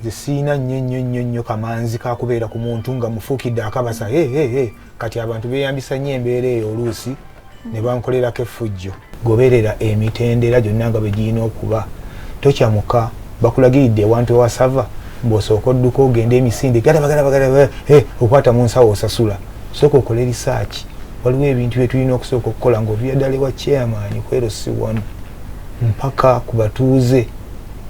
nze siina nnyo nnyo nnyo nnyo kamanzi kakubeera ku muntu nga mufuukidde akabasa hehehe kati abantu beeyambisa nnyo embeera eyo oluusi ne bankolerako effujjo goberera emitendera gyonna nga bwe girina okuba tokyamuka bakulagiridde ewantu ewasava mbwosooka odduka ogenda emisinde okwata mu nsawo osasula sooka okole risaaki waliwo ebintu bye tulina okusooka okukola ngaovira ddala ewa chairman kwero si wanu mpaka ku batuuze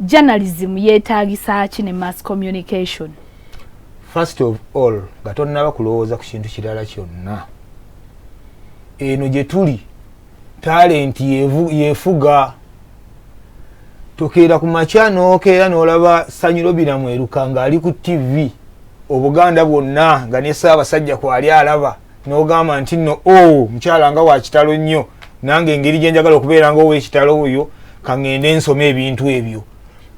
journalism yetaagisa ki ne mass communication first of all nga tonnaba kulowooza ku kintu kirala kyonna eno gye tuli talenti yefuga tokeera ku makya nokeera nolaba sanyiro biramweruka ng'ali ku ttivi obuganda bwonna nga ne saabasajja kwali alaba nogamba nti no o oh, mukyala nga wakitalo nnyo nange engeri gyenjagala okubeera nga owekitalo oyo kaŋŋende nsoma ebintu ebyo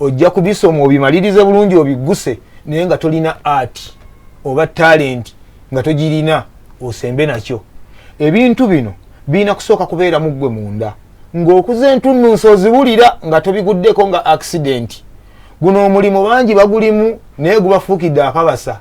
ojja kubisoma obimalirize bulungi obigguse naye nga tolina art oba talenti nga togirina osembe nakyo ebintu bino birina kusooka kubeera mu ggwe munda ng'okuza entunnunsi oziwulira nga tobiguddeko nga accidenti guno omulimu bangi bagulimu naye gubafuukidde akabasa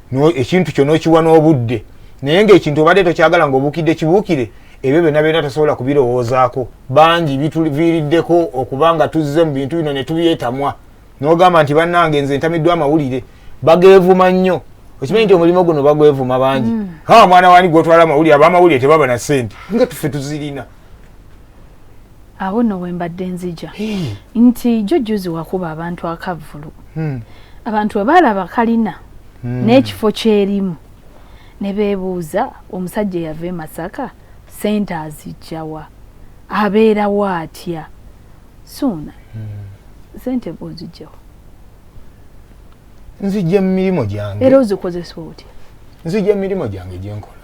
ekintu kyo nokiwa n'obudde naye ngaekintu obadde tokyagala nga obukidde kibuukire ebyo byonna byonna tosobola kubirowoozaako bangi bituviiriddeko okuba nga tuzze mu bintu bino ne tubyetamwa n'ogamba nti bannange nze ntamiddwa amawulire bageevuma nnyo okimanyi nti omulimu guno bagwevuma bangi mm. ha mwana wani gwotwala amawulire abamawulire tebaba na sente nga tufe tuzirina awo no wembadde nzija nti jujjuzi wakuba abantu akavvulu hmm. abantu we baalaba kalina hmm. n'ekifo kyerimu ne beebuuza omusajja eyava e masaka sente azijjawa abeerawo atya suuna hmm. sente bwozijjawa nzijja mu mirimu gyange era ozikozesa otya nzijja mu mirimu gyange gyenkola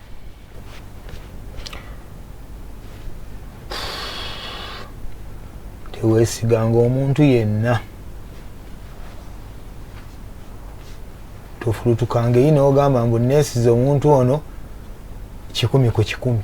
teweesiganga omuntu yenna tofulutukanga eyi nogamba mbu neesiza omuntu ono kikumi ku kikumi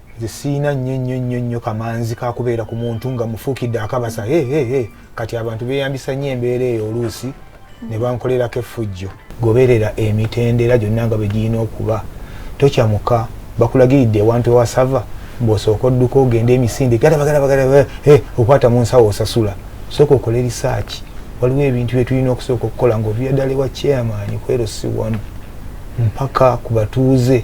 nze siina nnyo nnyo nnyo nnyo kamanzi kakubeera ku muntu nga mufuukidde akabasa hehehe kati abantu beeyambisa nnyo embeera eyo oluusi ne bankolerako effujjo goberera emitendera gyonna nga bwe girina okuba tokyamuka bakulagiridde ewantu ewasava bwosooka odduka ogende emisinde galabagalabagala eh, okwata mu nsawo osasula sooka okole risaaki waliwo ebintu bye tulina okusooka okukola ng'oviyaddala ewa chairman kwerosiwanu mpaka ku batuuze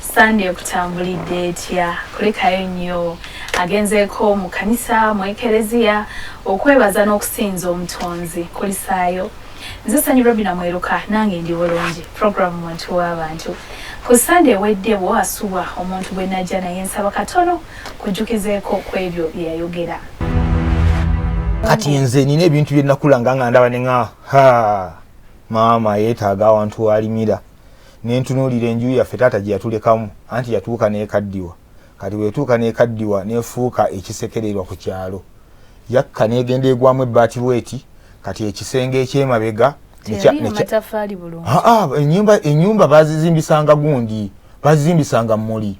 Sande ekutambulidde etya? Kulikayo nnyo. Agenzeeko mu kkanisa, mu ekereziya okwebaza n'okusinza Omutonzi. Kulisaayo. Nze Sanyu Robina Mweruka nange ndi bulungi program muntu w'abantu. Ku Sande ewedde wo asubwa omuntu gwe najja naye nsaba katono kujjukizeeko ku ebyo bye yayogera. Kati nze nina ebintu bye nakulanga nga ndaba ne nga ha maama yeetaaga awantu walimira. ne ntunuulira enju yaffe taata gye yatulekamu anti yatuuka n'ekaddiwa kati bwe yatuuka n'ekaddiwa n'efuuka ekisekererwa ku kyalo yakka n'egenda egwamu ebbaati bweti kati ekisenge eky'emabega enyumba bazizimbisanga gundi bazizimbisanga muli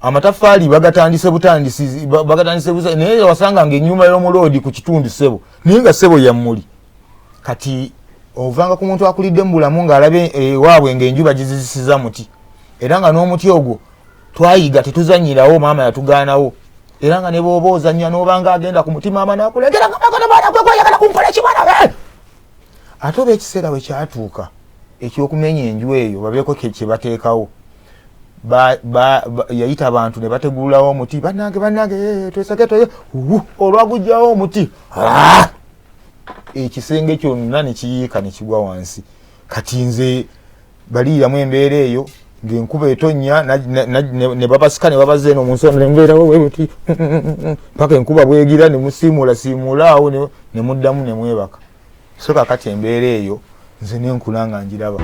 amataffaali bagatandise butandisi bagatandise busa naye wasanga nga enyumba y'omuloodi ku kitundu sebo naye nga sebo yammuli kati ovanga ku muntu akulidde mu bulamu ng'alabe ewaabwe ng'enju bagizizisiza muti era nga n'omuti ogwo twayiga tetuzanyirawo maama yatugaanawo era nga ne booba ozannya n'obanga agenda ku mutima ama nakuleetera kamakanamanakwekwaagala kunkola ekibala eh! ate oba ekiseera we kyatuuka ekyokumenya enju eyo babeeko kyebateekawo yayita abantu ne bategululawo omuti banange banange eh, twesage toye olwagujjawo omuti ah! ekisenge kyonna nekiyiika nekigwa wansi kati nze baliiramu embeera eyo ngenkuba etonya nebabasika nebabaza eno munsi nembeerawoweweti paka enkuba bwegira nemusiimuula siimuula awo nemuddamu nemwebaka so kakati embeera eyo nze nenkula nga njiraba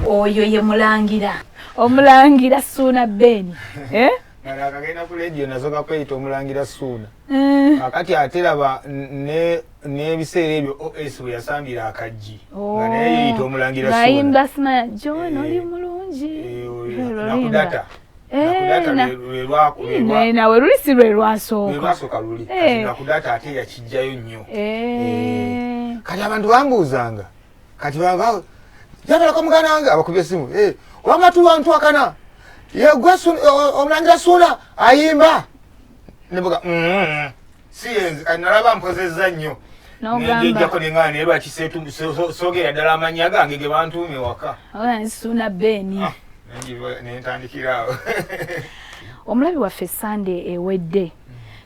oyo ye mulangira omulangira suuna beeni eh? Kala akagenda ku leediyo nazo kakweyita omulangira suuna eh. akati ate laba n'ebiseera ebyo os bwe yasambira akaggi oh. nga naye yeyita omulangira suunayimba simaya john eh. oli mulungi eh, nakudata nawe luli si lwe lwasooka luli nakudata ate yakijjayo nnyo kati abantu bambuuzanga kati baba yatalako muganda wange abakubye esimu eh, wama tuwantwakana yegwe omulangira suuna ayimba nebuga mm-hmm. si yenzi kati nalaba mpozezza nnyo nejejjako nengana naye lwaki sogera ddala amannya gange ge bantuuma ewaka suuna beni ah, nentandikiraawo omulabi waffe sande ewedde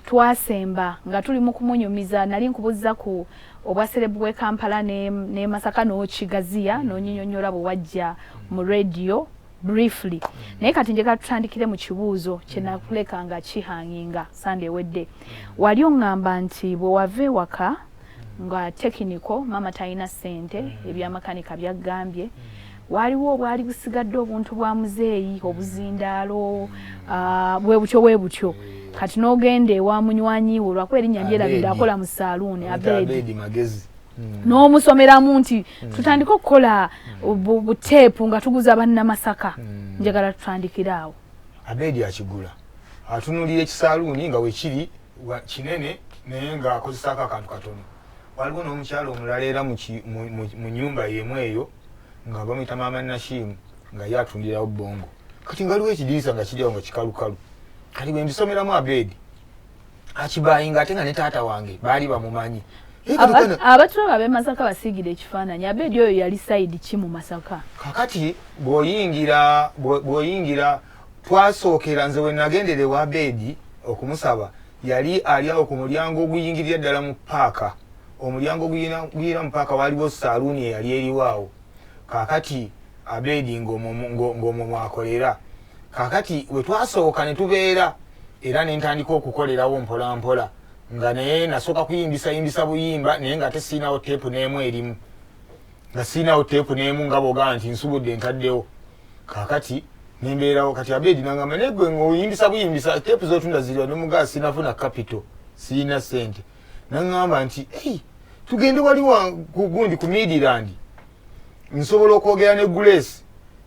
twasemba nga tuli mu kumunyumiza nali nkubuza ku obwa serebu bw'e Kampala ne, ne Masaka n'okigaziya mm. n'onyinyonnyola bwe wajja mu radio briefly mm. naye kati njagala tutandikire mu kibuuzo kye mm. nakuleka nga kihanginga sande ewedde mm. wali oŋŋamba nti bwe wava ewaka nga tekiniko maama talina ssente mm. ebyamakanika byaggambye mm. waaliwo obwali busigadde obuntu bwa muzeeyi obuzindaalo bwebutyo ah, bwebutyo kati n'ogenda ewa munywanyiwe olwakuba erinnya lyerabidde akola mu saaluuni abedi magezi hmm. n'omusomeramu nti hmm. tutandike okukola hmm. buteepu nga tuguza bannamasaka njagala tutandikire awo abedi akigula atunulira ekisaaluuni nga wekiri kinene naye ng'akozesako akantu katono waliwo n'omukyalo omulala era mu nyumba yemu eyo nga bamuyita maama nashimu nga ye atundirawo bongo kati nga waliwo ekidirisa nga kiriwo nga kikalukalu kati bwe mbisomeramu abeedi akibayinga ate nga ne taata wange baali bamumanyi abatulaba abemasaka basiigire ekifaananyi abeedi oyo yali sayidi ki mu masaka kakati bwoyingira bwoyingira twasookera nze wenagendera ewa beedi okumusaba Yali ali awo ku mulyango oguyingirira ddala mu paaka. Omulyango oguyingira mu paaka waaliwo saaluuni eyali eriwo awo. Kaakati Abedi ng'omwo mw'akolera. Kaakati we twasooka ne tubeera, era ne ntandika okukolerawo mpolampola, nga naye nasooka kuyimbisa-yimbisa buyimba naye ng'ate sirinawo teepu n'emu erimu. Nga sirinawo teepu n'emu nga bw'ogamba nti nsubudde ntaddewo. kakati nembeerawo kati abedi nangamba naye gwe ngaoyimbisa buyimbisa tepu zotunda ziriwa nomugaa sinafuna capital sirina sente nangamba nti ei tugende wali gundi ku midirandi nsobola okwogera ne gulesi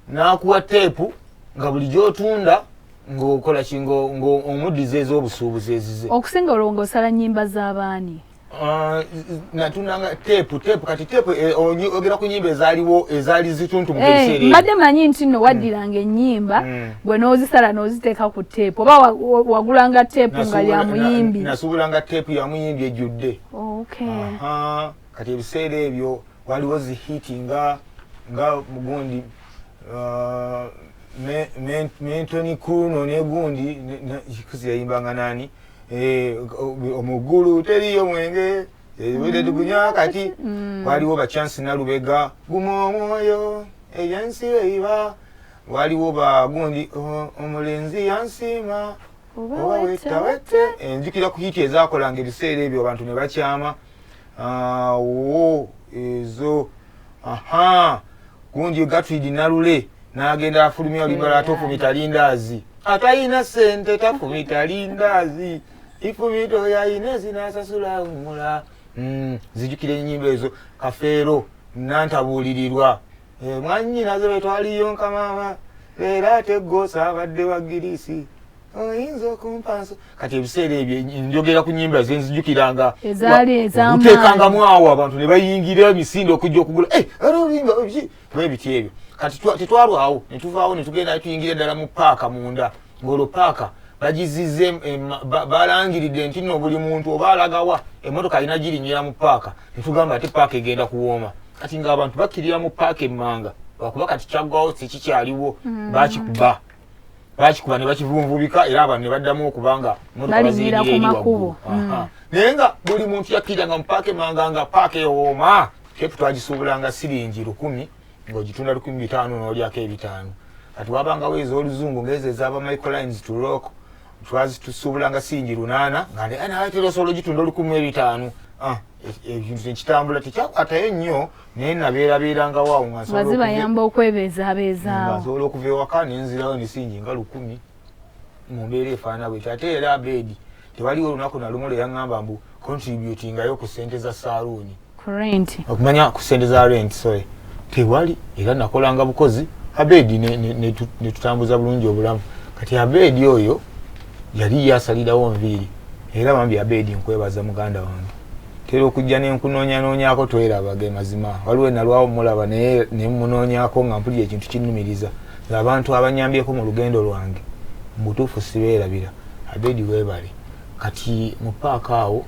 nakuwa tepu nga buli gyotunda ngaokola ki ngaomuddiza ez'obusuubuzi ezize okusinga olwo ngaosala nyimba z'abaani Ah, natunanga tepu tepu kati tepu eh, ogera ku nyimba ezaliwo ezali zituntu mu eh, biseera mbadde manyi nti no waddiranga ennyimba mm. gwe n'ozisala n'oziteeka ku tepu oba wagulanga tepu nga ya muyimbi nasuubulanga tepu ya muyimbi ejjudde oh, kati ebiseera ebyo waliwo zihiti nga nga mugundi ah, mentoni kuno negundi kikuzi yayimbanga nani Eh, omugulu teriyo mwenge ebire eh, tugunywa kati mm. waliwo ba chance nalubega guma omwoyo eyansi eiba waliwo ba gundi oh, omulenzi yansiima oba wetawete enjukira eh, ku hiti ezakolanga ebiseera ebyo abantu ne bakyama awo ezo aha gundi gatwidi nalule nagenda afulumya olibala ate ofumita lindaazi atayina sente tafumita lindaazi ifumita oyo ayina ezinasasula wumula hmm, zijukira enyimba ezo kafeero nantabuulirirwa Eh, mwanyinaze betwaliyo nkamama leero ate gosa abadde wa girisi oyinza okumpanso kati ebiseera ebyo njogera ku nyimba zenzijukiranga ezaaliezamteekangamu awo abantu ne bayingira emisinde okujja okugula eh, oluyimba bwebiti ebyo kati tetwalwawo ne tuvaawo ne tugenda ne tuyingira ddala mu paaka munda ng'olwo paaka bagizize balangiridde nti no buli muntu oba alagawa emotoka alina girinyira mu paaka netugamba ate paaka egenda kuwooma kati nga abantu bakirira mu paaka emmanga lwakuba kati kyaggwawo tekikyaliwo mm. bakikuba bakikuba ne bakivunvubika era abantu ne baddamu okuba nga motokabazinyira eri waggulu mm. naye nga buli muntu yakkirira nga mu paaka emmanga nga paaka ewooma tepu twagisuubulanga siringi lukumi ng'ogitunda lukumi bitaano n'olyako ebitaano kati wabangawo ez'oluzungu ng'ezo ezaba microlines to rock twazitusuubulanga singi lunaana nga naatera osobola ogitunda olukumi ebitaano ah, e, ekintu tekitambula tekyakwatayo nnyo naye nabeerabeerangawo awo ngazibayamba okwebeezaabeezaawo nsobola okuva ewaka nenzirawo nesingi nga lukumi mu mbeera efaana bwekyo ate era abeedi tewaliwo olunaku nalumu lweyaŋamba mbu contributingayo ku sente za saluuni okumanya ku sente za rent sorry tewali era nakolanga bukozi abeedi netutambuza ne, ne bulungi obulamu kati abeedi oyo yali yasalirawo nviiri era bambi abeedi nkwebaza muganda wange tera okujja nenkunonyanonyako twerabage mazima waliwo enalwawo mulaba naye nemunonyako nga mpulira ekintu kinumiriza abantu abanyambyeko mu lugendo lwange mubutuufu sibeerabira abedi webale kati mu paaka awo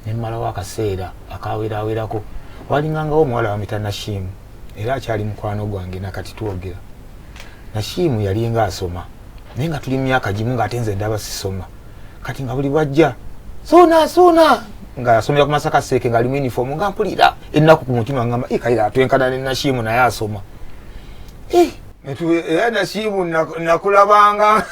nemmalawo akaseera akawerawerako walingangawo omuwala wamita nashiimu era akyali mukwano gwange nakati twogera nashiimu yalinga asoma naye nga tuli mumyaka gimu ngaate nze ndaba sisoma kati nga buli bwajja sona sona nga asomera ku masaka seeke nga alimu uniform nga mpulira ennaku ku mutima ngamba ikaira atwenkana ne nashiimu naye asoma era nasiibu nakulabanga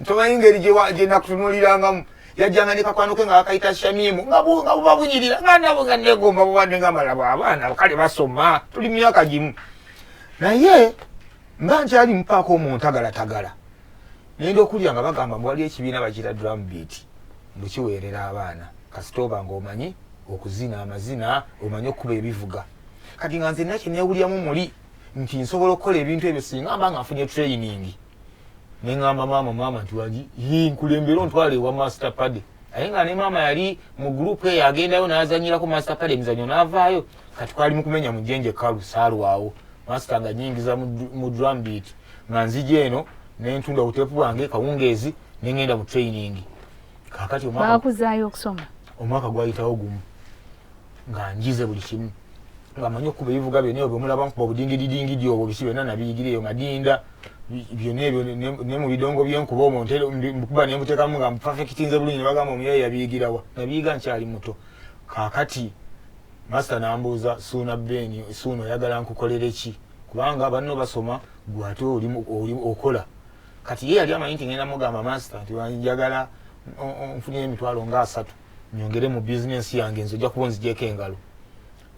ntomanyi ngeri gyenakutunulirangamu yajjanga ne kakwano ke nga bakayita shamimu nga buba bunyirira nga nabo nga negomba bubadde nga malabo abaana kale basoma tuli myaka gimu naye mba nkyali mupaako omuntagalatagala nenda okulya nga bagamba mbu waliyo ekibiina bakira drum beat mukiweerera abaana kasita oba nga omanyi okuzina amazina omanyi okukuba ebivuga kati nga nze nakyenewulyamu muli nti nsobola okukola ebintu ebyo singa mba nga nfunye training nengamba maama maama nti wagi nkulembera ontwala ewa master pade aye nga ne maama yali mu group eyo agendayo nazanyirako master pade emizanyo navaayo kati kwali mukumenya mujenje kalu salwawo master nga nyingiza mu drum beat nga nzija eno nentunda obutepu bwange kawungeezi nengenda mu training kakati omwaka gwayitawo gumu nga njize buli kimu nga manyi okuba ebivuga byona ebyo bemulaba nkuba obudingididingidi obwo biki byona nabiyigire eyo nga dinda byona ebyo ne mu bidongo byenkuba omwo nkuba nembuteekamu nga mupafekitinze bulungi nebagamba omuyaye yabiyigirawa nabiyiga nkyali muto kakati masita nambuuza suuna beeni suuna oyagala nkukolere ki kubanga banno basoma gwe ate oli okola kati ye yali amanyi nti ngenda mugamba masita nti njagala nfunire emitwalo nga asatu nyongere mu business yange nze ojja kuba onzigyeko engalo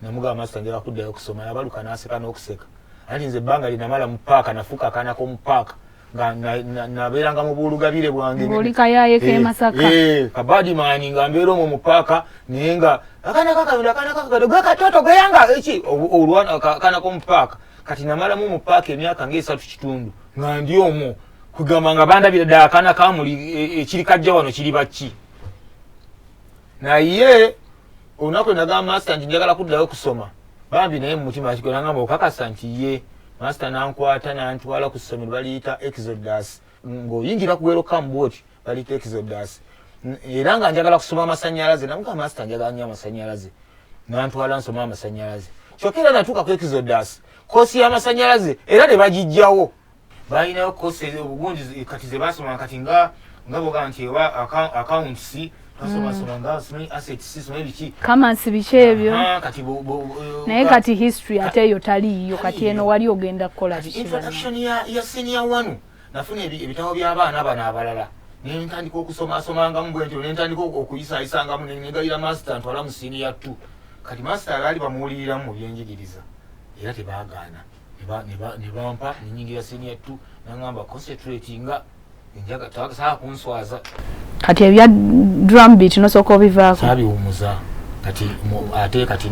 namugamba masita njala kuddayo okusoma nabaluka naseka n'okuseka anti nze ebbanga linamala mu paaka nafuuka akaana k'omu paaka nabeeranga mu buulugabire bwangeolikayayekemasaka eh, eh, kabadimaani nga mbeera omwo mu paaka naye nga akaana kakabino akaana kakabino gakatoto geyanga eki olwana akaana k'omu paaka kati namalamu mu paaka emyaka ngaesatu kitundu nga ndi omwo kugamba nga bandabira ddala akaana kamuli e, ekiri kajja wano kiri bakki naye olunaku enagamba masita nti njagala kuddayo kusoma bambi naye mumutima kigwe nangamba okakasa nti ye masita nankwata nantwala ku ssomero baliyita exodus ng'oyingira ku welokamu bwoti baliyita exodus era nga njagala kusoma amasanyalaze namuga masita njagala nyo amasanyalaze nantwala nsoma amasanyalaze kyokka era natuuka ku exodus kosi y'amasanyalaze era ne bagijjawo balinayo kosi obugunji kati zebasoma kati nga nga boga nti oba accounts basomasoma mm. nga simanyi assets simanyi biki kamansi biki ebyo kati naye kati history ate eyo taliiyo kati eno wali ogenda kukola introduction ya senior wanu nafuna ebitabo by'abaana bano abalala nentandika okusomasomangamu bwentyo nentandika okuyisayisangamu negayira master ntwala mu siniya t kati master alaali bamuwuliriramu mu byenjigiriza era tebagaana nebampa nenyingira senior t nangamba concentrate nga enjaga tasaa kunswaza kati ebya drum beat nosooka obivaako sabiwumuza kati ate kati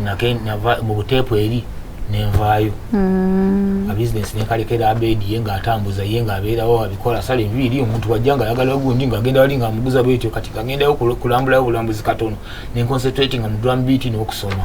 mu buteepu eri nenvaayo mm. abisinesi nenkalekera abedi ye nga atambuza ye nga abeerawo abikola sala envi eri omuntu wajja nga ayagala gundi nga agenda wali nga amuguza bwetyo kati kagendayo kulambulayo bulambuzi katono nenconcentratinga mu drum beat n'okusoma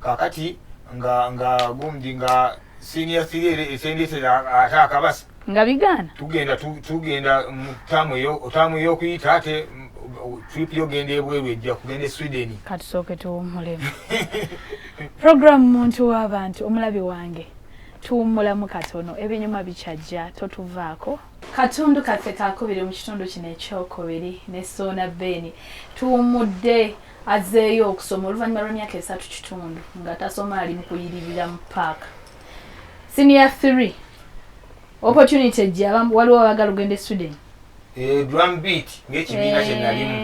kakati nga nga gumdi nga senior theory etendetera ate akabasa nga bigaana tugenda tugenda mutamu yo otamu yo kuyita ate trip yo genda ebweru ejja kugenda e Sweden katusooke tuwummule program muntu w'abantu omulabi wange tuwummulamu katono ebinyuma bikyajja totuvaako katundu kaffe kakubiri mu kitundu kino ekyokubiri ne soona beeni tuwummudde Azzeeyo okusoma oluvannyuma lw'emyaka esatu kitundu nga tasoma ali mu kuyiririra mu paaka. Siniya 3 opportunity ejja waliwo abagala ogenda e Sweden. Eh, drum beat ng'ekibiina kye nalimu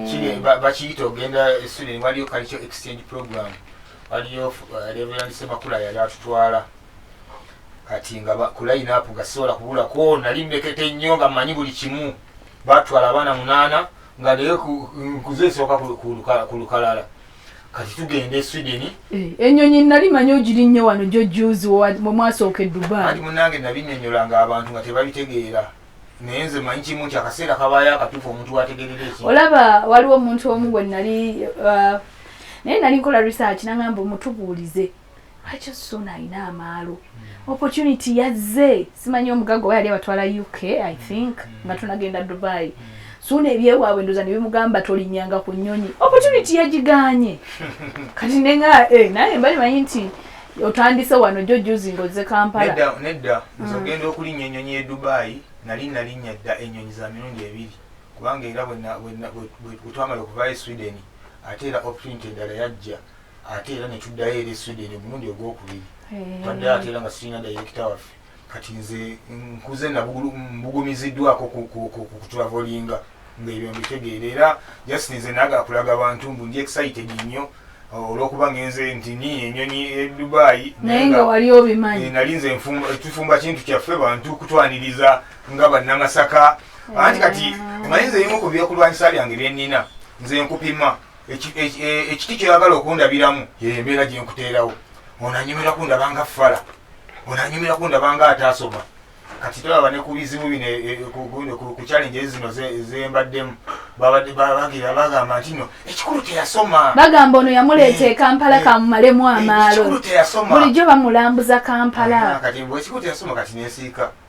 eh. bakiyita ogenda e Sweden waliyo kalikyo exchange program waliyo eh, Reverend Semakula yali atutwala kati nga ku line up nga sisobola kubulako nali mmekete nnyo nga mmanyi buli kimu batwala abaana munaana nga naye nkuze esooka ku lukalala kati tugenda e sweden eh, enyonyi nali manyi ogiri nnyo wano gyo juzi mwemwasooka edubaati munange nabinyonyola nga abantu nga tebabitegeera naye nze manyi kimu nti akaseera kabaayo akatuufu omuntu wategerera eki olaba waliwo omuntu omu gwe nali uh, naye nali nkola research nangamba omutubuulize lwaki suuna alina amaalo hmm. opportunity yazze simanyi omugaga oba yali abatwala uk i think hmm. nga tunagenda dubai hmm. suuna ebyewaabwe ndoza nebimugamba tolinyanga ku nyonyi opportunity yagiganye kati nenga eh, naye mbali manyi nti otandise wano jo juzi ngoze kampala nedda nze ogenda okulinya enyonyi e dubai nali nalinya dda enyonyi za mirundi ebiri kubanga era bwetwamala okuvayo e sweden ate era opportunity endala yajja ate era ne tuddayo eri Sweden omulundi ogwokubiri eh. twaddayo ate era nga sirina dayirekita waffe kati nze nkuze mbugumiziddwako kutulavolinga ngaebyo mbitegeera era just nze naga kulaga bantu mbu ndi excited nnyo uh, olwokuba ngenze nti ni enyonyi e dubayi naye nga wali obimanyi eh, nali nze tufumba kintu kyaffe bantu kutwaniriza nga bannamasaka eh. anti kati omanyi nze ebimu ku byokulwanyisa byange byenina nze nkupima ekiti kyoyagala okundabiramu yeyembeera gyenkuteerawo onanyumira kundabanga fala onanyumira kundabanga ataasoma kati tolaba ne ku bizibu bino e, e, ku challenge zino zembaddemu bagira bagamba nti no ekikulu teyasoma bagamba ono yamuleeta eh, ekampala eh, kamumalemu eh, amaalo bulijjo bamulambuza kampala kati ekikulu teyasoma kati nesiika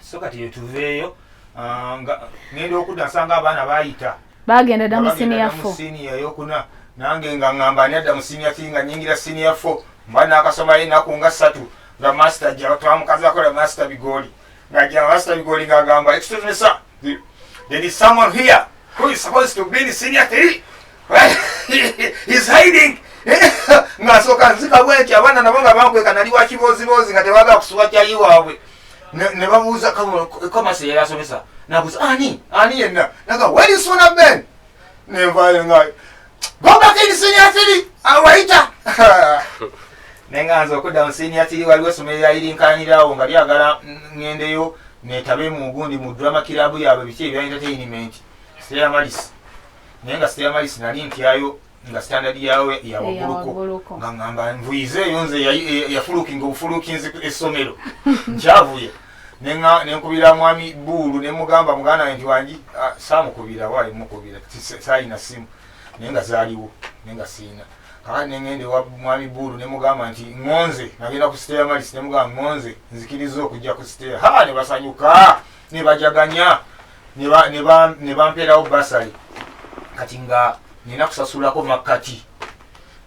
so kati yetuveeyo ah, nga ngenda okudda nsanga abaana bayita bagenda dda mu siniya fo siniya yokuna nange nga ngamba ani adda mu siniya ti nga nyingira siniya fo mba nakasomayo enaku nga satu nga masita ja twamukazi akola masita bigoli nga ja masita bigoli nga agamba excuse me sir there is someone here who is supposed to be in siniya three He's hiding. Ng'asooka nzika bwenti abaana nabo nga bankweka nali wa kibooziboozi nga tebaagala kusuwa kyayi waabwe ne babuuza komasi yeyasomesa nabuuza ani ani yenna naga weri suna ben nenvayo ngayo gobakini sinia tiri awayita naye nga nze okuddamu sinia tiri waliwo essomero lyayirinkanyirawo nga lyagala ngendeyo netabe mu gundi mu drama kirabu yaabwe biki ebyaentertainment seyamalisi naye nga siteyamaisi nali ntyayo nga standard yawe yawaguluko nga ngamba nvuyize eyo nze yafulukinga obufulukinzi essomero nkyavuye nenkubira mwami buulu nemugamba muganda nti wangi samukubira wali mukubira salina simu naye nga zaliwo naye nga siina kakati nengende wa mwami buulu nemugamba nti ngonze nagenda ku siteya malisi nemugamba ngonze nzikiriza okujja ku siteya ha nebasanyuka nebajaganya ne bampeerawo basale kati nga nina kusasulako makkati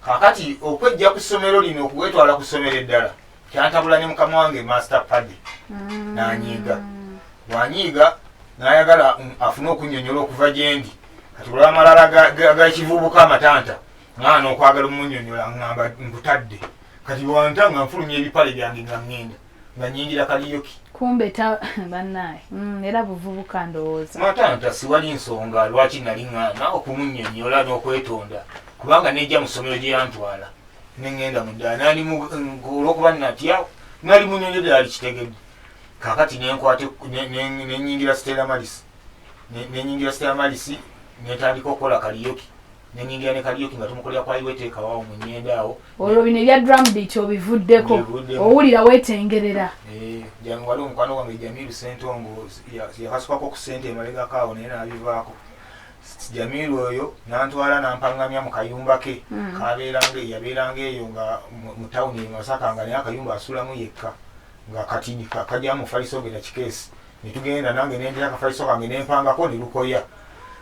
kakati okwejja ku ssomero lino okuwetwala ku ssomero eddala kyantabula ne mukama wange master padi mm. nanyiiga wanyiiga nayagala mm, afune okunyonyola okuva gyendi kati olwamalala gakivubuka amatanta ngaana okwagala omunyonyola ngamba nkutadde kati wanta nga nfulumya ebipale byange nga ngenda nga nyingira kaliyoki kumbe ta banaye mm, era buvubuka ndowooza matanta siwali nsonga lwaki nali ŋŋaana okumunyonyola n'okwetonda kubanga nejja mu ssomero gye yantwala ne ŋŋenda mu ddala nali olw'okuba natya nali munyonyo ddala likitegedde kakati nenkwate nenyingira stela malisi nenyingira stela malisi netandika okukola kaliyoki nenyingira ne kalyoki nga tumukolera kwa iwe teeka wawo mu nyenda awo olwo bino ebya drum beat obivuddeko owulira wetengerera eh, jangu waliwo omukwano gwange jamiru sentongo yakasukako ku sente emalegako awo naye nabivaako jamiru oyo nantwala nampangamya mu kayumba ke hmm. kabeeranga yabeeranga eyo nga mu tawuni emasaka nga naye akayumba asulamu yekka nga kati kajamufaliso ogenda kikeesi ne tugenda nange ne ndira akafaliso kange ne mpangako ne lukoya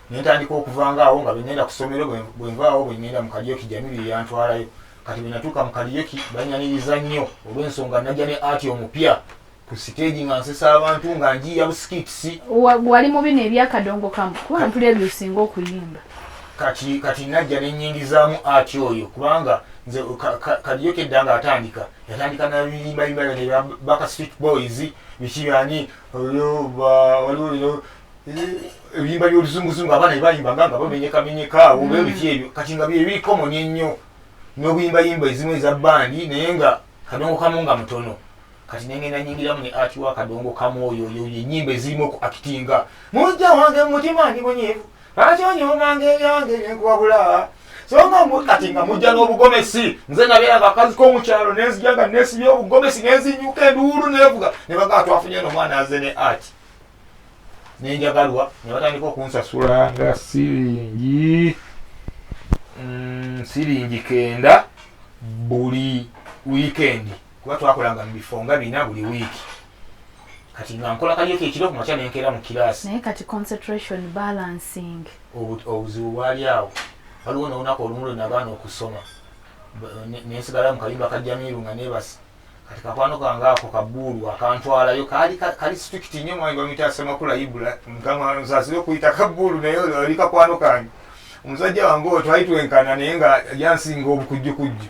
ne ntandika okuvanga awo nga bwe ŋŋenda ku ssomero bwe nvaawo bwe ŋŋenda mu kaliyoki jamiru ye yantwalayo kati bwe natuuka mu kaliyoki banyaniriza nnyo olw'ensonga najja ne ati omupya ku siteegi nga nsesa abantu nga njiiya busikitisi wali mu bino ebyakadongo kamu kuba ntuli ebyo osinga okuyimba kati kati najja ne nnyingizaamu ati oyo kubanga nze kaliyoki edda nga atandika yatandika nabiyimayima yona baka street boys bikiyani waliwo ebiyimba byoluzunguzungu abaana bebayimba nga nga bamenyekamenyeka awo mm. bebiki ebyo kati nga byebiri common ennyo nobuyimbayimba ezimu eza bandi naye nga kadongo kamu nga mutono kati nengenda nyingiramu ne ati wa kadongo kamu oyo oyo enyimba ezirimu okuakitinga mujja wange mumutima ndi munyivu lwaki onyomanga ebyange byenkubabula songa kati nga mujja n'obugomesi nze nabeera akakazi k'omukyalo nenzija nga nesibya obugomesi nenzinyuka enduulu nevuga ne bagaa twafunye nomwana aze ne ati nenjagalwa ne batandika okunsasula nga siringi mm, siringi kenda buli wiikendi kuba twakolanga mu bifo nga bina buli wiiki kati nga nkola kalyeko ekiro ku makya nenkeera mu kiraasi naye kati concentration balancing obuzibu bwali awo waliwo nolunaku olumu lwe nagaana okusoma nensigala mu kalimba ka jamiiru nga nebasa kati kakwano kange ako kabuulu akantwalayo kali kali strict nnyo mwange bamuyita asemakula ibula mukama nsasire okuyita kabuulu naye oli kakwano kange omusajja wange oyo twali twenkana naye nga yansinga obukujjukujju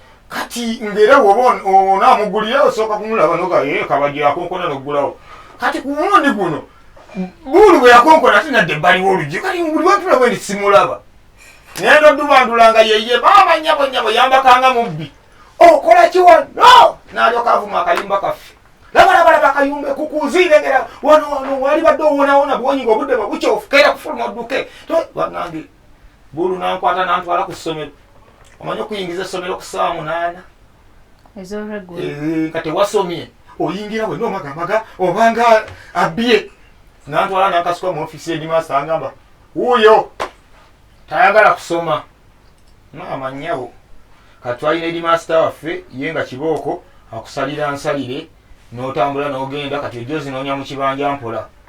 kati ngera woba onamugulira osooka kumulaba nokabajira eh, akonkona nokugulawo kati ku mulundi guno buulu bwe yakonkona ate nadde ebbaliwo oluggi kati buli wetulaba endi simulaba naye nodubandulanga yeye maama nyabo nyabo yambakanga mubbi okola kiwa no nalyoka avuma akayumba kaffe labalabalaba akayumba ekukuziire ngera wano wano wali badde owonawona bwonyi nga obudde bwe bukyofu keera kufuluma odduke banange bulu nankwata nantwala ku ssomero omanye okuyingiza essomero ku saawa munaana nga tewasomye oyingira wenna omagamaga obanga abbye nantwala nankasuka mu ofisi enyuma asangamba wuuyo tayagala kusoma maama nnyabo katwalina eri maasita waffe ye nga kibooko akusalira nsalire n'otambula n'ogenda kati ojja ozinoonya mu kibanja mpola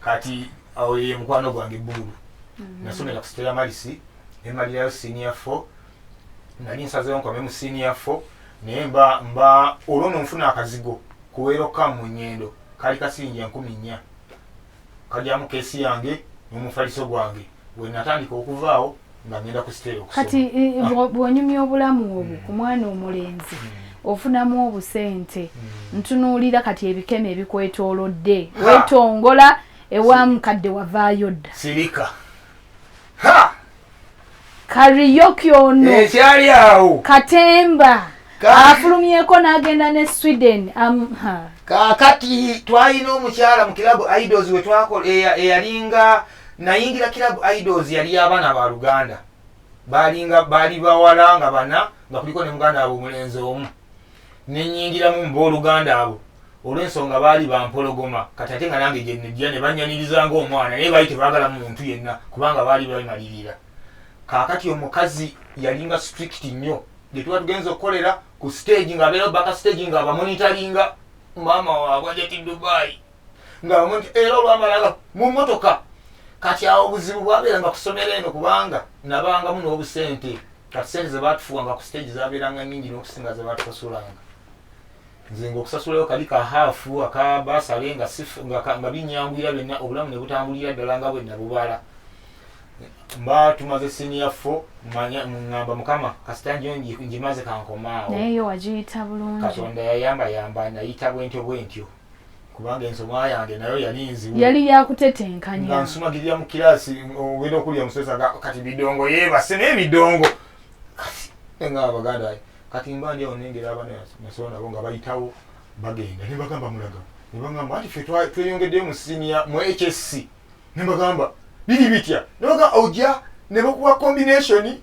kati awo ye mukwano gwange buulu mm-hmm. nasomera ku sitera malisi nemalirayo senior fo nali nsazewo nkome mu senior fo naye mba mba olwo nonfuna akazigo kuweeroka mu nyendo kali kasiringi enkumi nnya kalyamu keesi yange n'omufaliso gwange wenatandika okuvaawo nga ngenda ku siteeri okusoma kati eh, ah. bwonyumya obulamu obwo hmm. ku mwana omulenzi hmm. ofunamu obusente hmm. ntunuulira kati ebikeme ebikwetoolodde wetongola ewa mukadde wavaayo dda sirika kariyoki ono ekyali awo katemba afulumyeko n'agenda ne sweden kakati twalina omukyala mu kirabu idols wetwakola eyalinga Nayingira Club Idols yali y'abaana ba Luganda. Baalinga baali bawala nga bana nga kuliko ne muganda waabwe omulenzi omu. Ne nnyingiramu mu booluganda abo olw'ensonga baali bampologoma kati ate nga nange gye nnejja ne bannyaniriza ng'omwana naye baali tebaagala muntu yenna kubanga baali bemalirira. Kaakati omukazi yalinga strict nnyo gye tuba tugenza okukolera ku siteegi ng'abeerawo baka siteegi ng'abamonitalinga maama waabwe ajja ti Dubai. nga bamwe nti era olwamalala mu mmotoka kati awo obuzibu bwabeeranga kusomero eno kubanga nabangamu n'obusente kati sente zebatufuwanga ku stage zabeeranga nyingi n'okusinga zebatusasulanga nze nga okusasulayo kali ka haafu aka basale nga nga binyanguyira byonna obulamu ne butambulira ddala nga bwe nabubala mba tumaze siniya fo ngamba mukama kasita njo njimaze kankomaawo katonda yayamba yamba nayita bwentyo bwentyo kubanga ensoma yange nayo yali nzibu yali yakutetenkanya nga nsumagirira mu kiraasi ogenda okulya omusomesa nga kati bidongo yeebase naye bidongo nga abaganda kati mba ndi awo nengera abana nasoba nabo nga bayitawo bagenda ne bagamba mulaga ne bagamba anti fe tweyongeddeyo mu siniya mu hsc ne bagamba biri bitya ne bagamba ojja ne bakuwa kombinationi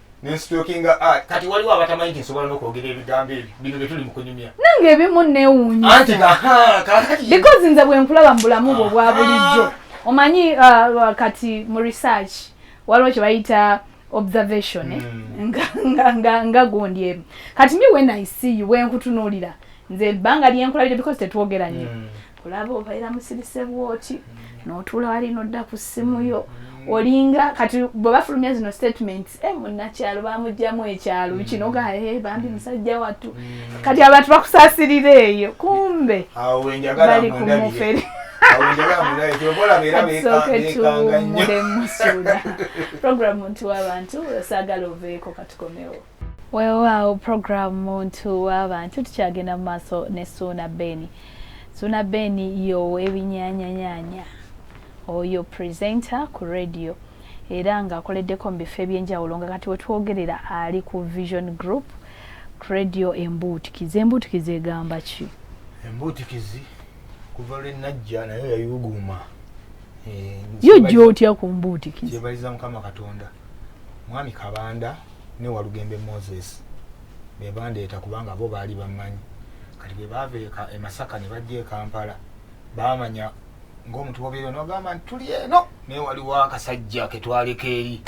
nensitokinga ah, kati waliwo abatamanyi nti nsobola nokwogera ebigambo ebyo bino byetuli mukunyumya nange ebimu newunyisabecause nze bwenkulaba mu bulamu bwo bwa bulijjo omanyi uh, kati mu research waliwo kyebayita observation eh? hmm. nga gundi emu kati mi when i see you wenkutunulira nze ebbanga lyenkulabire because tetwogeranye hmm. olaba obaira musirise bwoti notuula wali nodda ku ssimu yo olinga kati bwe bafulumya zino statements e eh, munnakyalo bamugjamu ekyalo mm. kino gae eh, bambi musajja wattu mm. kati abantu bakusasirira eyo kumbe bali ku mufere program nti wabantu osagala oveeko katukomewo Weewaawo program muntu w'abantu tukyagenda mu maaso ne Suuna Beni. Suuna Beni y'ow'ebinyaanyanyaanya oyo presenter ku radio era ng'akoleddeko mu bifo eby'enjawulo nga kati we twogerera ali ku Vision Group ku radio Embuutikizi. Embuutikizi egamba ki? Embuutikizi kuva lwe najja nayo yayuguuma. Eh, yo jja otya ku mbuutikizi? Gyebaliza Mukama Katonda. Mwami Kabanda. ne walugembe moses bebandeeta kubanga bo baali bammanyi kati bwebaava e, e masaka ne bajja e kampala baamanya ngaomuntu bobeera nogamba nti tuli eno naye waliwo akasajja ketwaleka eri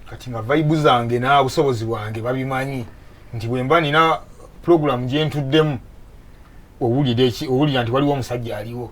kati nga vaibu zange nabusobozi bwange babimanyi nti bwemba nina pulogulamu gyentuddemu owulira nti waliwo omusajja aliwo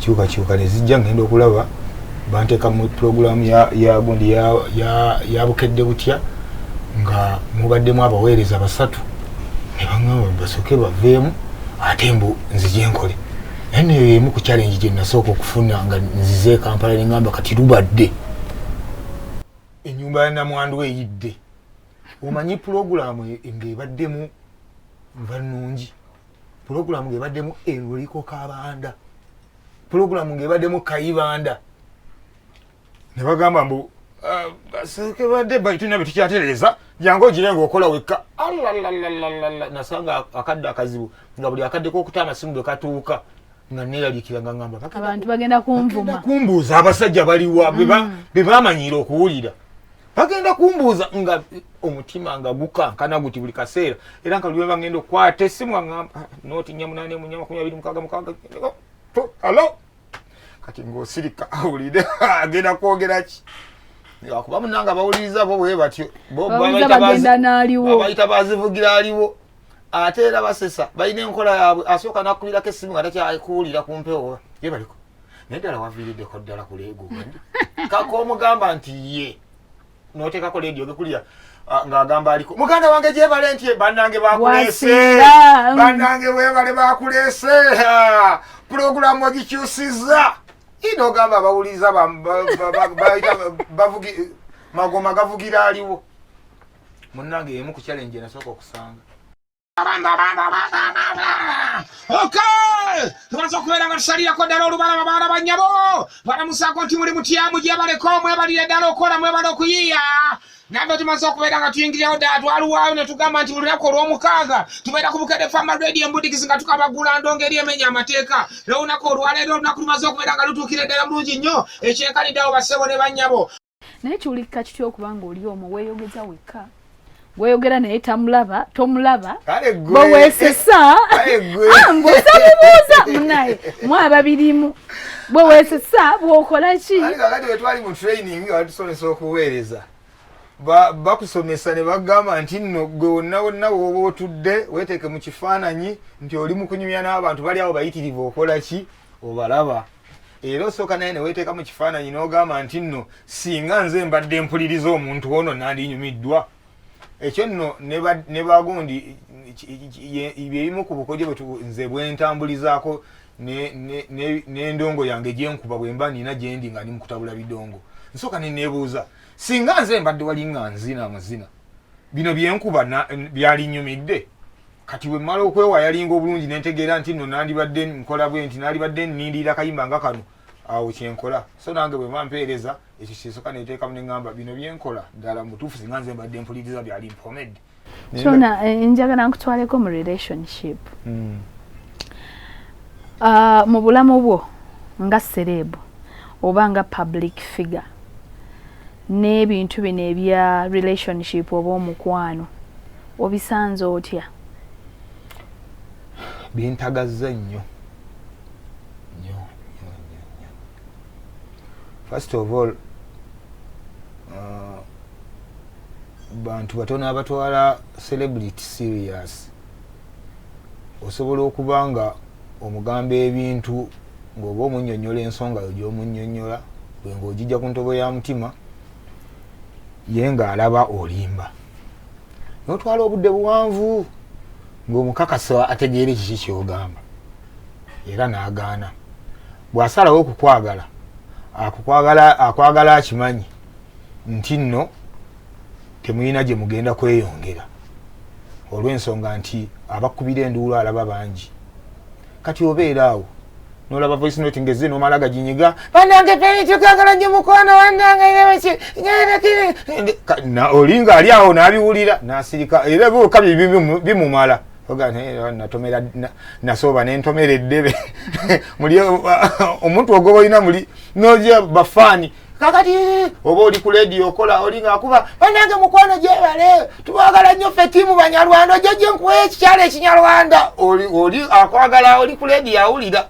kyukakyuka nezijja ngenda okulaba banteka mu pulogulaamu yagundi ya bukedde butya nga mubaddemu abaweereza basatu nebaŋamba basooke baveemu ate mbu nzije nkole naye neyo yemu ku challenge gye nasooka okufuna nga nzize ekampala neŋamba kati lubadde enyumba ya namwandu eyidde omanyi pulogulaamu e, ng'ebaddemu nva nnungi pulogulamu ng'ebaddemu eluliko kabanda pulogulamu ng'ebaddemu kayibanda ne bagamba mbu ah, sekebadde baituna bye tukyatereeza jangu ogire ngaokola wekka alalalalala nasanga akadde akazibu nga buli akaddeko okuta amasimu bwe katuuka nga neeraliikira nga ngamba abantu bagenda kunvuma kumbuuza abasajja baliwa be mm. bamanyiira okuwulira bagenda kumbuuza nga omutima nga gukankana guti buli kaseera era nga lulwe bagenda okukwata esimu aamba ah, noti nyamunane munya makumi abiri mukaga mukaga alo kati ngaosirika awulire agenda kwogera ki akuba munanga bawuliriza bo bwe batyo bobayita bazivugira aliwo ate era basesa balina enkola yaabwe asooka nakubirako essimu nga takyakuwulira ku mpewo ye baliko naye ddala waviiriddeko ddala ku leego kaka omugamba nti ye noteekako leedi ogekulira ah, ng'agamba aliko muganda wange gyebale nti bannange bakuleese bannange webale bakuleese pulogulaamu ogikyusizza ina ogamba abawuliriza bavugi magoma gavugira aliwo munnange yemu ku challenge enasooka okusanga tumaze okubeera nga tusalirako ddala olubalaba baana bannyabo balamusaako nti muli mutyamu gyebaleko mwebalire ddala okukola mwebale okuyiiya nabbe tumaze okubeera nga tuyingirirawo ddala twaluwaayo ne tugamba nti buli lunaku olw'omukaaga tubeera ku bukede fama radio embudikizi nga tukabagula ndongo eri emenya amateeka era olunaku olwaleero olunaku lumaze okubeera nga lutuukira eddala bulungi nnyo ekyenkaniddeawo bassebo ne bannyabo naye kiwulikika kitya okuba nga oli omu weyogeza wekka gweyogera naye tamulaba tomulaba bwewesesa ah, ngosamubuuza munaye mwaba birimu bwewesesa bwokola ki kakati wetwali mu training nga batusomesa okuweereza bakusomesa ne bagamba nti nno gwe wonna wonna wooba otudde weteeke mu kifaananyi nti oli mu kunyumya n'abantu bali awo bayitirivu okola ki obalaba era osooka naye neweteeka mu kifaananyi n'ogamba nti nno singa nze mbadde mpuliriza omuntu ono nandinyumiddwa ekyo nno ne bagundi byebimu ku bukodyo nze bwentambulizaako n'endongo yange gyenkuba bwemba nina gyendi nga ndi mukutabula bidongo nsooka neneebuuza singa nze mbadde walinga nzina amazina bino byenkuba byalinyumidde kati wemmala okwewa yalinga obulungi nentegeera nti no nandibadde nkola bwe nti nalibadde nnindirira kayimba nga kano awo kyenkola so nange bwe mba mpeereza ekyo kyesoka neteekamu neŋamba bino byenkola ddala mutuufu singa nze mbadde mpuliriza byali mpomedde kyona eh, njagala nkutwaleko mu relationship hmm. ah, mu bulamu bwo nga sereebu oba nga public figure n'ebintu bino ebya relationship oba omukwano obisanze otya bintagazza nnyo nyo nyo nyo nyo first of all uh, bantu batono abatwala celebrity serious osobola okuba nga omugamba ebintu ng'oba omunyonyola ensonga yo gy'omunyonyola gwe ng'ogijja ku ntobo ya mutima ye ng'alaba olimba n'otwala obudde buwanvu ng'omukakasa ategeera ekiki ky'ogamba era n'agaana bw'asalawo okukwagala akwagala akimanyi nti nno temulina gye mugenda kweyongera olw'ensonga nti abakubira enduulu alaba bangi kati obeera awo nolaba voice note ngeze nomala gaginyiga banange peni tukagala nyo mukwano wanange yeweki olinga ali awo nabiwulira nasirika era byoka bimumala natomera nasooba nentomera eddebe muli omuntu ogoba olina muli noja bafaani kakati oba oli ku lediyo okola oli ngaakuba banange mukwano gyebale tubagala nnyo ffe tiimu banyarwanda ojja gye nkuwa ekikyalo ekinyarwanda oli akwagala oli ku lediyo awulira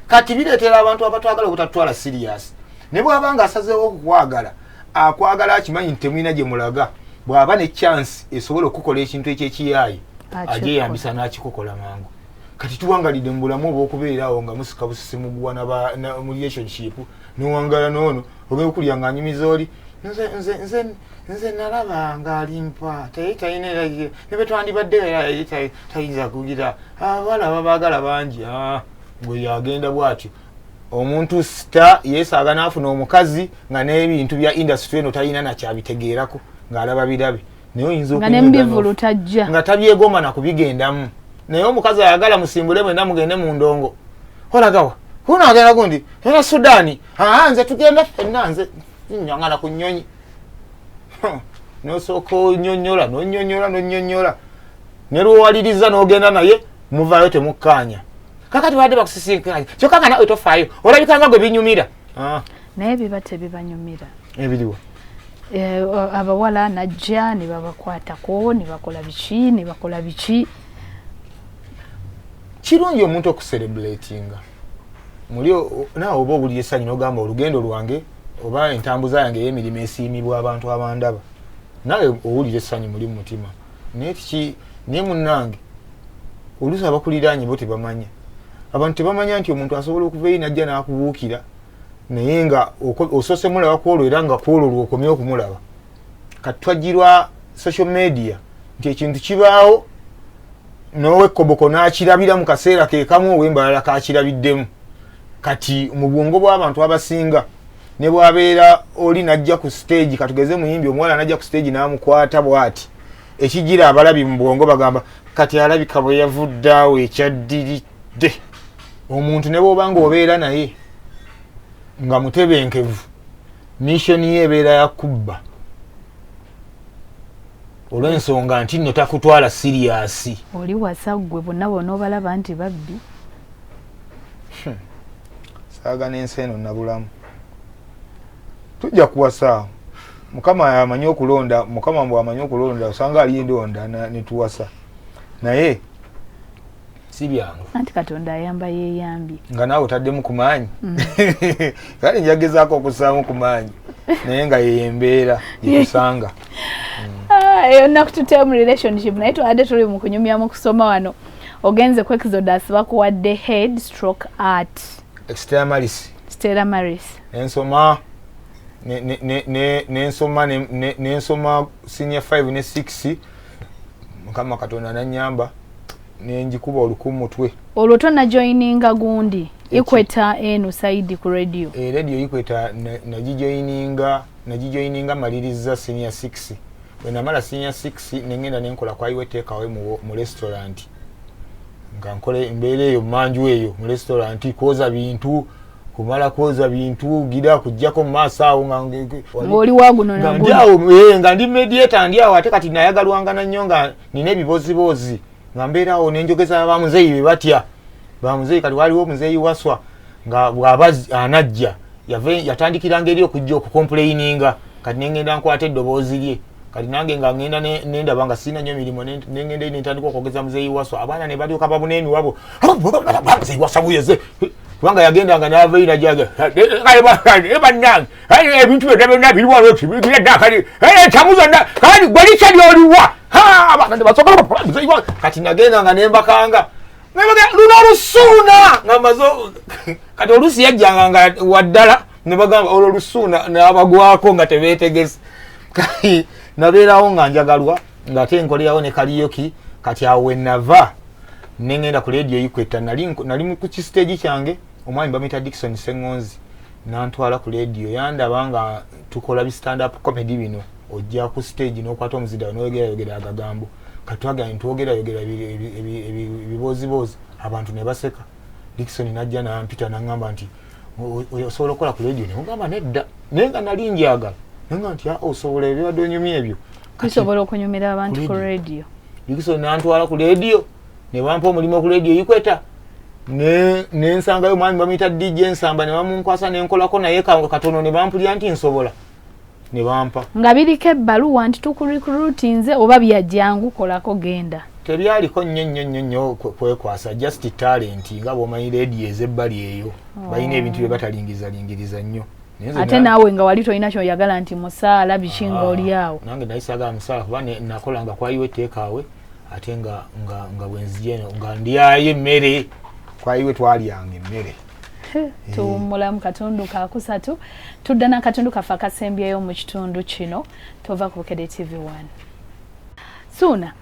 kati bireetera abantu abatwagala obutatwala siriyasi ne bwaba nga asazeewo okukwagala akwagala akimanyi nti temulina gye mulaga bw'aba ne chansi esobola okukola ekintu ekyekiyaayi agyeyambisa n'akikukola mangu kati tuwangalidde mu bulamu obwokubeeraawo nga musika busisi muguwa mu relationship nowangala noono ogenda okulya nga anyumiza oli nze nalaba nga alimpa taye talina era ne bwe twandibadde era yali tayinza kugira abawala ah, babaagala bangi ah, gwe yagenda bwatyo omuntu sita yesaaga n'afuna omukazi nga n'ebintu bya indasitry eno talina nakyabitegeerako ng'alaba birabe naye oyinza nga nemubivulu tajja nga tabyegomba nakubigendamu naye omukazi ayagala musimbule mwena mugende mu ndongo olagawa huno agenda gundi era sudani aa nze tugenda fenna nze nyangana ku nyonyi nosooka onyonyola nonyonyola nonyonyola nelwowaliriza nogenda naye muvayo temukkaanya kakati wadde bakusisinkanya kyokka nga nawe tofaayo olabikanga gwe binyumira ah. naye biba tebibanyumira ebiriwa eh, abawala najja nebabakwatako nebakola biki nebakola biki kirungi omuntu okuserebulatinga muli naawe oba obuli esanyu nogamba olugendo lwange oba entambuza yange eyemirimu esiimibwa abantu abandaba nawe owulira essanyu muli mumutima naye kiki naye munange oluusi abakuliraanye bo tebamanya abantu tebamanya nti omuntu asobola okuva eyi najja n'akubuukira naye nga osoose mulaba kwolwo era nga kwolwo lwokomye okumulaba kati twajjirwa social media nti ekintu kibaawo nowekoboko n'akirabira mu kaseera kekamu owembalala kakirabiddemu kati mu bwongo bw'abantu abasinga ne bwabeera oli najja ku stage katugeze muyimbi omuwala najja ku stage namukwata bwati ekijira abalabi mu bwongo bagamba kati alabika bwe yavudde awo ekyaddiridde omuntu ne bwoba nga obeera naye nga mutebenkevu missoni ye ebeera ya kubba olw'ensonga nti nno takutwala siriyasi oli wasa ggwe bonna bona obalaba nti babbi Hmm. saaga n'ensi eno nabulamu tujja kuwasa mukama amanyi okulonda mukama mbw amanyi okulonda osanga ali ndonda netuwasa naye si byangu anti katonda ayamba yeyambye nga naawe otaddemu ku maanyi mm. kale njagezaako okussaamu ku maanyi naye nga yeyembeera yekusanga eyo ah, naku tuteemu relationship naye twabadde tuli mu kunyumya mu kusoma wano ogenze ku exodus bakuwadde head stroke art extera maris extera maris ensoma nensoma nensoma senior 5 ne 6 mukama katonda nanyamba nenjikuba oluku mutwe olwo tonajoininga gundi ikweta eno saidi ku radio e radio ikweta nagijoininga nagijoininga maliriza senior 6 bwe namala sinya 6 ne ngenda ne nkola kwayiwa eteekawe mu restauranti nga nkola embeera eyo mumanju eyo mu restauranti kwoza bintu kumala kwoza bintu gira kujjako mu maaso awo ngaoli waguno nga ndi awo eh, nga ndi mediator ndi awo ate kati nayagalwangana nnyo nga nina ebiboziboozi nga mbeerawo nenjogeza bamuzeeyi be batya bamuzeeyi kati waliwo omuzeeyi waswa nga bwaba anajja yatandikiranga eri okujja okukompuleyininga kati nengenda nkwata eddoboozi lye kati nange nga ngenda nendaba nga sirina nyo mirimu nengenda eri nentandika okwogeza muzeeyi waswa abaana ne balyoka babuna emiwabo muzeeyi waswa buyeze kubanga yagendanga navainajaga banange ayi ebintu byonna byonna biri wano kibigira dda kali ekyamu zonna kali gwe likya lyoliwa abakadde basobola muzeyiwa kati nagenda nga nembakanga luno olusuuna nga maze kati oluusi yajjanga nga waddala ne bagamba olwo olusuuna nabagwako nga tebeetegese kati nabeerawo nga njagalwa ngaate nkolerawo ne kaliyoki kati awo wenava nengenda ku leediyo yikwetta nali ku kisiteegi kyange omwami bamuyita dikison sengonzi nantwala ku leediyo yandaba nga tukola bi stand up comedy bino ojja ku stage nokwata omuzira noyogerayogera agagambo katwagala nitwogerayogera ebibooziboozi abantu ne baseka dikisoni najja nampita naŋamba nti osobola okukola ku leediyo nemugamba nedda naye nga nali njagala nanga nti ah, osobola ebibadde onyumya ebyo bisobola okunyumira abantu ku leediyo dikisoni nantwala ku leediyo ne bampa omulimu ku leediyo ikweta ne nsangayo omwami bamuyita dj nsamba ne bamunkwasa ne nkolako naye kango katono ne bampulira nti nsobola ne bampa nga biriko ebbaluwa nti tukurikrutinze oba byajjangu kolako genda tebyaliko nnyo nnyo nnyo nnyo kwekwasa just talenti nga bwomanyi leediyo ezebbali eyo oh. balina ebintu bye batalingirizalingiriza nnyo ate naawe nga wali tolina kyoyagala nti musaala biki nga ah, olyawo nange naye sagala musaala kuba nakolanga kwaliwo etteekaawe ate nga nga nga bwenzije eno nga ndyayo emmere kwayiwe twalyanga emmere eh. tuwummula mu katundu kakusatu tudda n'akatundu kaffe akasembyeyo mu kitundu kino tova ku bukede tv 1 suuna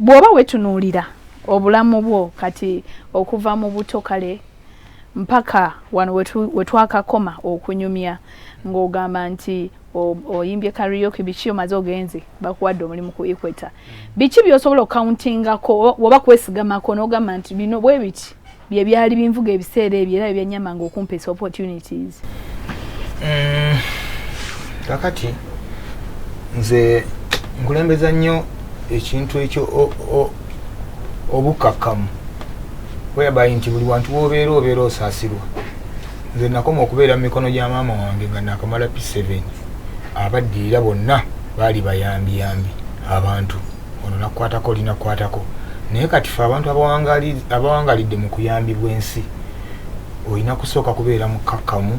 bw'oba wetunuulira obulamu bwo kati okuva mu buto kale mpaka wano wetwakakoma okunyumya ng'ogamba nti oyimbye karaoke biki omaze ogenze bakuwadde omulimu ku equator mm. biki byosobola okukauntingako oba kwesigamako nogamba nti bino bwe biti bye byali binvuga ebiseera ebyo era byebyanyamanga okumpesa opportunities mm. kakati nze nkulembeza nnyo ekintu ekyo obukakamu whereby nti buli wantu wobeera obeera osasirwa nze nakoma okubeera mu mikono gya maama wange nga nakamala p7 abaddirira bonna baali bayambiyambi abantu ono nakukwatako linakukwatako naye kati fe abantu abawangalidde mu kuyambibwa ensi olina kusooka kubeera mukakkamu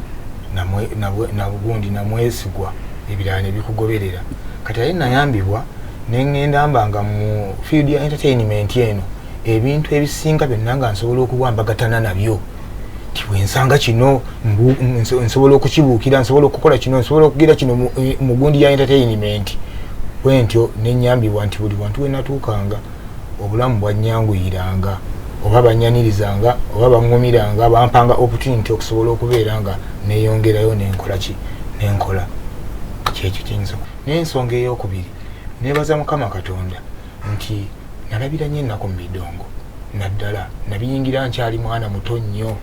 nabugundi namwesigwa ebirala nebikugoberera kati aye nayambibwa nengenda mba nga mu field ya entertainment eno ebintu ebisinga byonna nga nsobola okuwambagatana nabyo tiwensanga kino nsobola okukibuukira nsobola okukola kino nsobola okugira kino eh, mugundi ya entertainment bwentyo nenyambibwa nti buli wantu wenatuukanga obulamu bwanyanguyiranga oba banyanirizanga oba baŋumiranga bampanga opportunity okusobola okubeera nga neyongerayo nenkola ki nenkola kyekyo kyensonga eyokubiri nebaza mukama katonda nti nalabira nnyo ennaku mu bidongo naddala nabiyingira nkyali mwana muto nnyo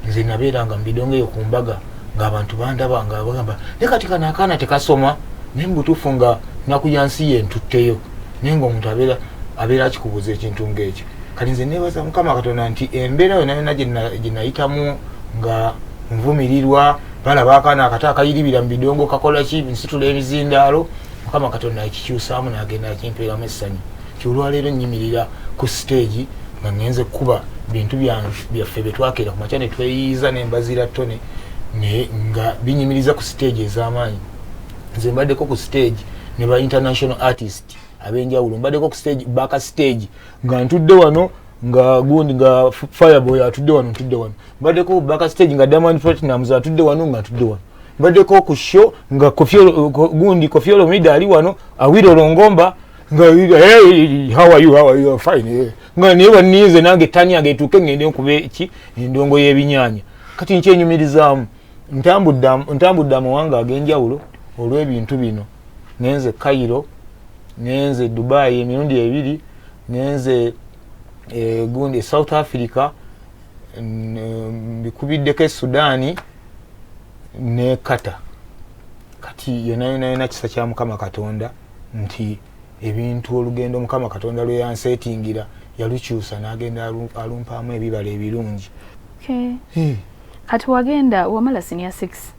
nze nabeera nga mu bidongo eyo ku mbaga ng'abantu bandaba nga bagamba ne kati kano akaana tekasoma naye mu butuufu nga nnaku ya nsi ye ntutteyo naye ng'omuntu abeera abeera akikubuuza ekintu ng'ekyo kati nze neebaza mukama katonda nti embeera yona yona gye nayitamu nga nvumirirwa balaba akaana akato akayiribira mu bidongo kakola ki nsitula ebizindaalo mukama katonda akikyusaamu nagenda akimpeeramu essanyu nti olwaleero nyimirira ku siteegi nga ngenze kukuba bintu byaffe byetwakeera ku makya netweyiiza nembazira tone naye nga binyimiriza ku siteegi ez'amaanyi nze mbaddeko ku siteegi ne ba international artist abenjawulo mbaddeko ku siteegi baka siteegi nga ntudde wano nga gundi nga fireboy atudde wano ntudde wano mbaddeko baka stage nga diamond platinums atudde wano nga ntudde wano mbaddeko ku show nga gundi kofiolo mida ali wano awira olongomba nga hey, how are you how are you fine hey. Eh. nga naye waninze nange tani yange etuuke ngende nkuba eki endongo y'ebinyanya kati nkyenyumirizaamu ntambudde amawanga ag'enjawulo olw'ebintu bino ngenze cairo ngenze dubai emirundi ebiri ngenze eh, gundi south africa mbikubiddeko e sudaani ne kata kati yonayonayona kisa kya mukama katonda nti ebintu olugendo mukama katonda lweyansetingira yalukyusa nagenda alumpaamu ebibala ebirungi kati wagenda wamala sinia 6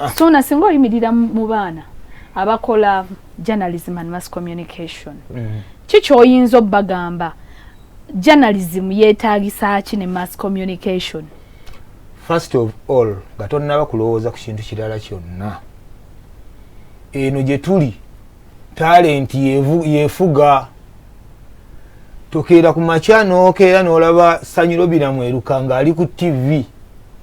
ah. sona singa oyimirira mu baana abakola journalism and mass communication mm. ki kyoyinza obagamba journalism yetagisa ki ne mass communication first of all nga tonnaba kulowooza ku kintu kirala kyonna eno gye tuli talenti yefuga tokeera ku makya nokeera nolaba sanyiro biramu eruka nga ali ku tv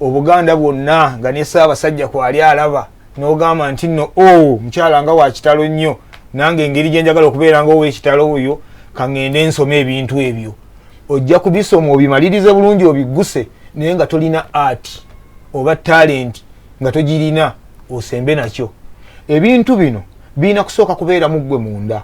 obuganda bwonna nga ne saabasajja kwali alaba nogamba nti no o oh, mukyala nga wakitalo nnyo nange engeri gyenjagala okubeera nga owekitalo oyo kaŋŋende nsoma ebintu ebyo ojja kubisoma obimalirize bulungi obigguse naye nga tolina art oba talenti nga togirina osembe nakyo ebintu bino birina kusooka kubeera muggwe munda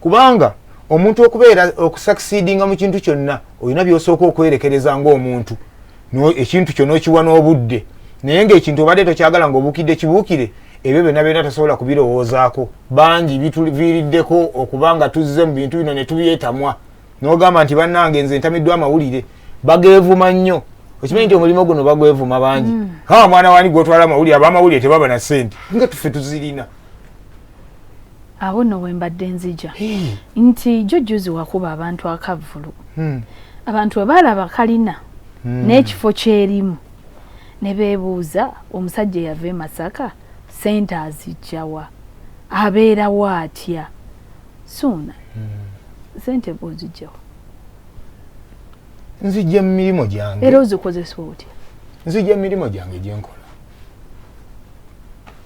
kubanga omuntu okubeera okusakisidinga mu kintu kyonna olina byosooka okwerekereza ngaomuntu ekintu kyo nokiwa n'obudde naye ngaekintu obadde tokyagala nga obukidde kibuukire ebyo byonna byonna tasobola kubirowoozaako bangi bituviiriddeko okuba nga tuzze mu bintu bino ne tubyetamwa nogamba nti bannange nze ntamiddwa amawulire bageevuma nnyo okimanyi nti omulimu guno bagwevuma bangi mm. ha mwana wani gwotwala amawulire abamawulire tebaba na sente nga tufe tuzirina awo no wembadde nzija nti jo juzi wakuba abantu akavulu hmm. abantu webalaba kalina hmm. n'ekifo kyerimu ne beebuuza omusajja eyava e masaka sente azijjawa abeerawo atya suuna hmm. sente bwozijjawa nzijja mu mirimu gyange era ozikozesa otya nzijja mu mirimu gyange gyenkola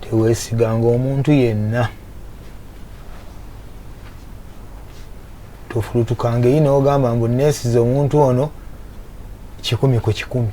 teweesiganga omuntu yenna tofulutukanga eyi nogamba mbu neesiza omuntu ono kikumi ku kikumi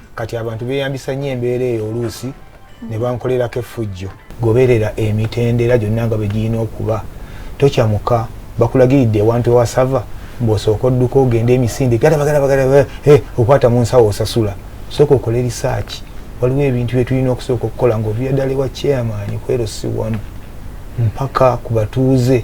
kati abantu beyambisa nnyo embeera eyo oluusi ne bankolerako effujjo goberera emitendera gyonna nga bwe girina okuba tokyamuka bakulagiridde ewantu ewasava mbwosooka odduka ogende emisinde galabagalabagala eh, okwata mu nsawo osasula sooka okole risaaki waliwo ebintu bye tulina okusooka okukola ngaoviyaddala ewa chairman kwero si wamu mpaka ku batuuze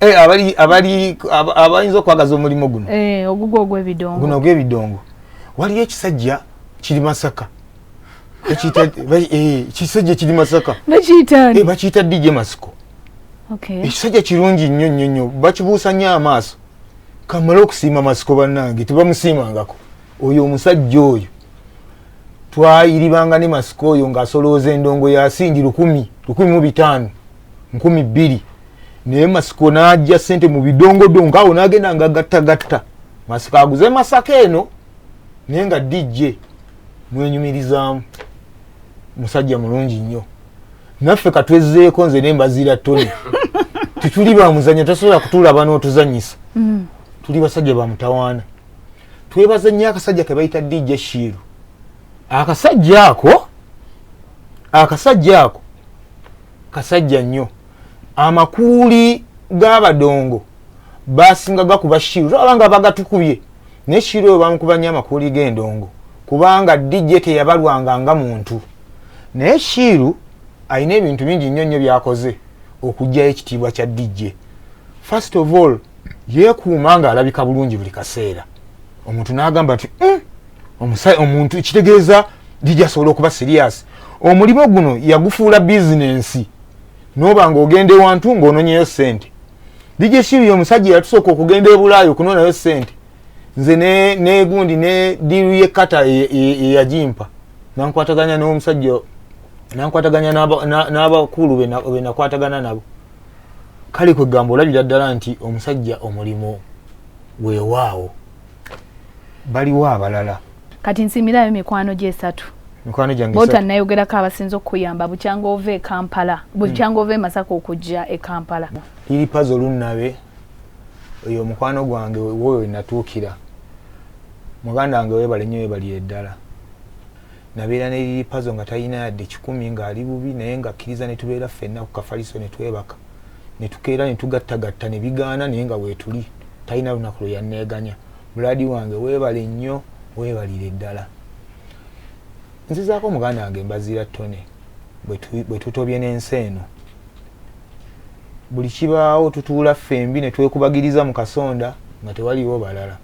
eh, abali abali abayinza okwagaza omulimu guno eh, ogugwo ogw'ebidongo guno ogw'ebidongo waliyo ekisajja kiri masaka eh, kisajja kiri masaka bakiyita dj masiko ekisajja kirungi nnyo nnyo nnyo bakibuusa nnyo amaaso kamale okusiima masiko bannange tebamusiimangako oyo omusajja oyo twayiribanga ne masiko oyo ng'asolooza endongo yasingi lukumi lukumi mu bitaano nkumi bbiri naye masiko n'ajja sente mu bidongodongo awo n'agenda nga gattagatta masiko aguze masaka eno naye nga dijje mwenyumirizaamu musajja mulungi nnyo naffe katwezzeeko nze ne mbaziira tony tetuli bamuzanya tasobola kutulaba n'otuzanyisa mm. tuli basajja bamutawaana twebaza nnyo akasajja ke bayita dijje shiiru akasajja ako akasajja ako kasajja nnyo amakuuli g'abadongo basinga gakuba shiru tolaba nga bagatukubye naye shiru oyo bamukuba nnyo amakuuli g'endongo kubanga dj teyabalwanga nga muntu naye shiru alina ebintu bingi nnyo nnyo byakoze okugjayo ekitiibwa kya dj first of all yeekuuma ng'alabika bulungi buli kaseera omuntu n'agamba nti mm, omusayi omuntu kitegeeza gijasobola okuba sirias omulimu guno yagufuula bizinensi noba nga ogenda ewantu ngaononyeyo sente dj shiri omusajja yatusooka okugenda ebulaayo okunonayo sente nze negundi ne diiru ye kata eyajimpa nankwataganya nomusajja nankwataganya n'abakulu benakwatagana nabo kale kwegamba olabira ddala nti omusajja omulimu wewaawo baliwo abalala kati nsimirayo mikwano gyesatu mikwano gyange bota nayogerako abasinza okukuyamba bukyanga ova e kampala bukyanga hmm. ova e masaka okujja e kampala liri pazi olunnabe oyo omukwano gwange woyo wenatuukira muganda wange webale nnyo webali eddala nabeera ne liri pazo nga talina yadde kikumi ng'ali bubi naye ngakkiriza ne tubeera ffenna ku kafaliso ne twebaka netukeera netugattagatta nebigaana naye nga wetuli talina lunaku lwe yanneeganya buladi wange weebale nnyo weebalire ddala nzizaako muganda wange mbaziira tone bwe tutobye n'ensi eno buli kibaawo tutuula ffembi ne twekubagiriza mu kasonda nga tewaliwo balala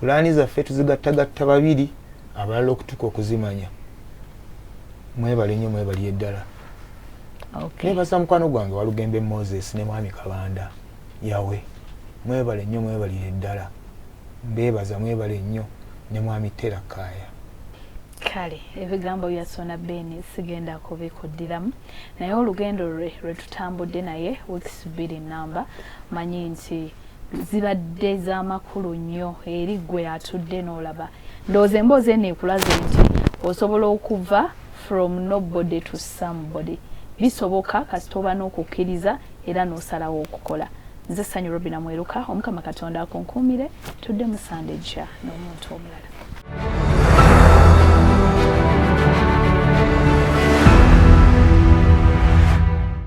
pulaani zaffe tuzigattagatta babiri abalala okutuka okuzimanya mwebale nnyo mwebali eddala okay. nebaza mukwano gwange walugembe moses ne mwami kabanda yawe mwebale nnyo mwebalire ddala mbebaza mwebale nnyo ne mwami tera kaya kale ebigambo bya sona beni sigenda kubikuddiramu naye olugendo lwe lwetutambudde naye weeks bbiri namba manyi nti zibadde zamakulu nnyo eri gwe atudde n'olaba Ndowooza emboozi eno ekulaze nti osobola okuva from nobody to somebody. Bisoboka kasita oba n'okukkiriza era n'osalawo okukola. Nze Ssanyu Robina Mweruka, Omukama Katonda akunkuumire, tudde mu Sande ejja n'omuntu omulala.